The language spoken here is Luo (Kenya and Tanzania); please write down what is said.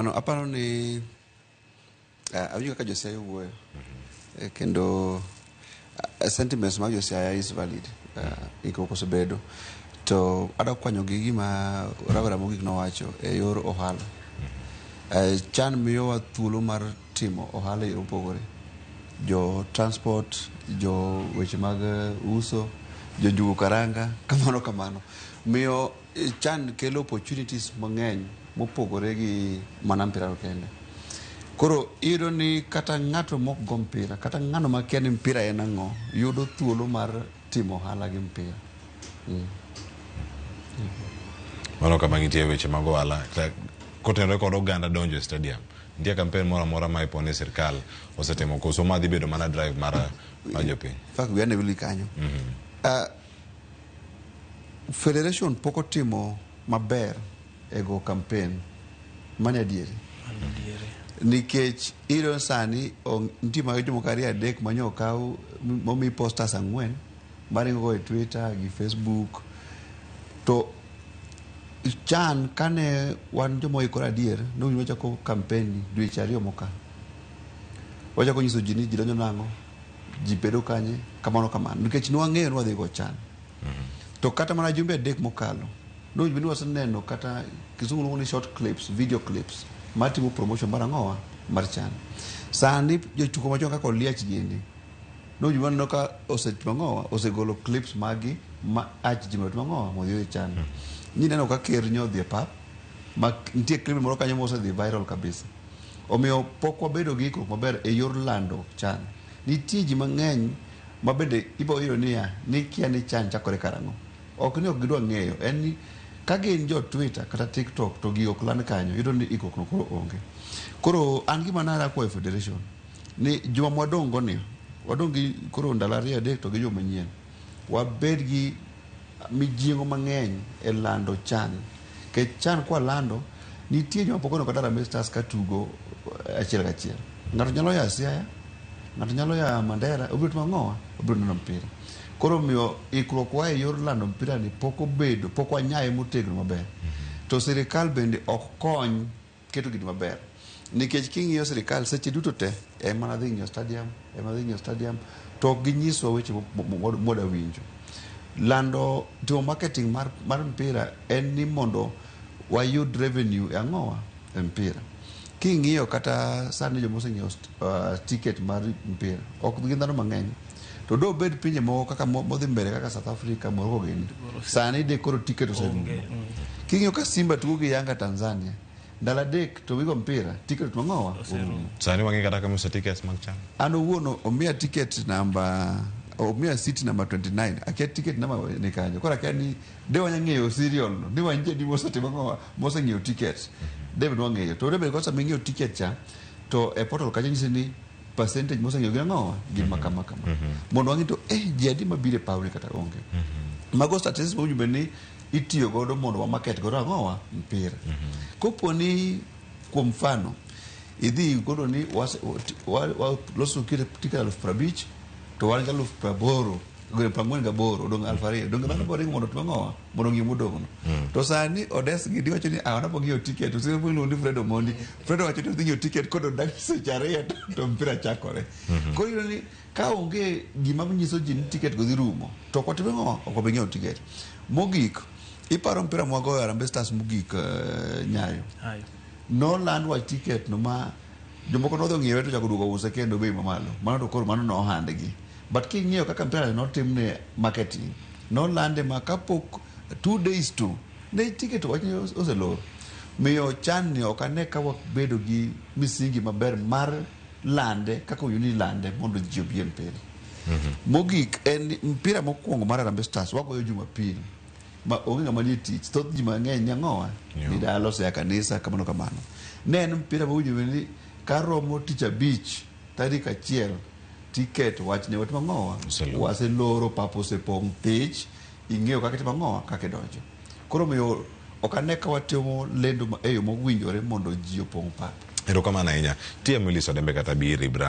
Ano, aparo ni uh, awinjo kaka Josiaya wuoyo mm -hmm. eh, kendo uh, sentiments mag Josiaya is valid uh, eh, ikoko osebedo to adwa kwanyo gi gima rawera mogik nowacho e yor ohala mm -hmm. uh, chan miyowa thuolo mar timo ohala e opogore jo transport jo weche mag uso jo jugo karanga kamano kamano miyo Chan kelo opportunities mang'eny mopogore gi mana mpira to kende. Koro iyudo ni kata ng'ato mok go mpira, kata ng'ano makia ni mpira en ang'o, yudo thuolo mar timo ohala gi mpira. Mm. Mano kama nitie weche mag ohala ta- kotenore kod oganda donjo e stadium. Nitie kampen moro amora ma ipo ni sirkal osetimo koso ma dhi bedo mana drive mar mar jopiny. In fact, we are in a really kanyo. Ah, Federation pok otimo maber e go kampen mane adieri nikech iro sani nitie ma jomo kari adek ma nyo kaw momi posters ang'wen maringo go e Twitter gi Facebook to chan kane wan joma oikore adier ne wachako kampen dweche ariyo mokalo wachako nyiso ji ni ji donjo nang'o ji bedo kanye kamano kamano nikech nwang'eyo ni wadhi go chan to kata mana jumbe adek mokalo nowinjo ni waseneno kata kizungu luongo ni short clips video clips matimo promotion mar ang'owa mar chan sani jotuko machon kaka oliach gini nowinjo ni waneno ka osetimo ang'owa osegolo clips magi ma ach ji mondo otim ang'owa mondo oyud chan nyi neno ka ker nyo odhi e pap ma nitie clip moro kanyo mosedhi viral kabisa Omiyo pok wabedo gi ikruok maber e yor lando chan. Nitie ji mang'eny ma bende ibo yudo niya, ni kia ni chan chakore karang'o. Ok ni ok gidwa ng'eyo, en ni ka gin jo Twitter kata TikTok to gigo ok land kanyo, yudo ni ikruok no koro onge. Koro an gima nara kwayo Federation ni juma ma wadong' go ni, wadong' gi koro ndalo ariyo adek to gi juma manyien, wabed gi mijing'o mang'eny e lando chan. Kech chan kwa lando, nitie joma pok oneno Harambee Stars ka tugo eh, achiel kachiel. Ng'ato nyalo ya Siaya, ng'ato nyalo ya Mandera, obiro timo ang'owa, obiro neno mpira. Koro miyo ikruok wa e yor lando mpira ni pok obedo, pok wanyaye motegno maber. To sirikal bende ok kony Keto gini maber. Nikech king'iyo sirikal seche duto te en mana dhi ng'iyo stadium, en mana dhi ng'iyo stadium to ok ginyiswa weche mwada winjo. Lando timo marketing mar, mar mpira en ni mondo wayud revenue e ang'owa e mpira. King'iyo kata sani joma oseng'iewo uh, ticket mar mpira ok gin dhano mang'eny to do bed pinje moko kaka mo- modhi mbele kaka south africa morocco gini sani de koro tiket oserumo king'iyo ka simba tugo gi yanga tanzania ndalo adek to wigo mpira tiket mang'owa orumo Sani wang'e kata kama uso tickets mag chama. an owuon omiya tiket namba omiya city namba 29 akia tiket namba ni kanyo koro akia ni de wanya ng'eyo serial no ni wanje ni mosetimo ng'owa moseng'eyo tiket de be nwang'eyo to de be kosa ming'eyo tiket cha to e portal kanyo nyisi ni percentage moseng'eyo gin ang'owa gin mm -hmm. makama kama mm -hmm. mondo wang'e to eh ji adi mabiro e pawni kata onge mm -hmm. mago statistics mowinjo bed ni itiyo godo mondo wamaket godo ang'owa mpira mm -hmm. kopo ni kuom mfano idhi godo ni waloso kire tika aluf prabich to wan ga aluf praboro gure prangwen ga boro dong alf ariyo dong dhano boringo mondo tuang'owa mondo ngima odong'no mm. to sani odes gidi wacho ni ah, wanapo ng'iewo tiket osiepo iluongo ni Fred Omondi Fred wacho ni odhi ng'iewo tiket kod odak seche ariyo to mpira chakore mm-hmm. koro iyudo ni ka onge gima nyiso ji ni tiket go dhi rumo to ok watime ng'o ok wabi ng'iewo tiket mogik iparo mpira mwagoyo Harambee Stars mogik uh, nyayo noland wach tiket no ma Jomoko nodhi ong'iewe to chako duogo use kendo bei mamalo. Mano to koro mano ne ohandgi. But king'iyo kaka mpira ne notimne marketing, nolande ma kapok two days to ne ticket wach ni ose- oselor. Miyo chan ni ok ane ka wabedo gi misingi maber mar lande kaka owinjo ni lande mondo ji obi e mpira. Mogik en ni mpira mokwongo mar Harambee Stars wagoyo Jumapil. ma onge ng'ama nie tich thoth ji mang'eny ni ang'owa Yeah. ni dala osea kanisa kamano kamano ne en mpira mawinjo bende ni karomo tich abich tarik achiel tiket wachne wat mang'owa Absolutely. waseloro pap osepong' thich ing'eyo kaka itimo ang'owa kaka idonjo koro omiyo ok ane ka watimo lendo ma- e yo mowinjore mondo ji opong' pap Erokamano ahinya. TM Willis Odembe kata Bi Ribra.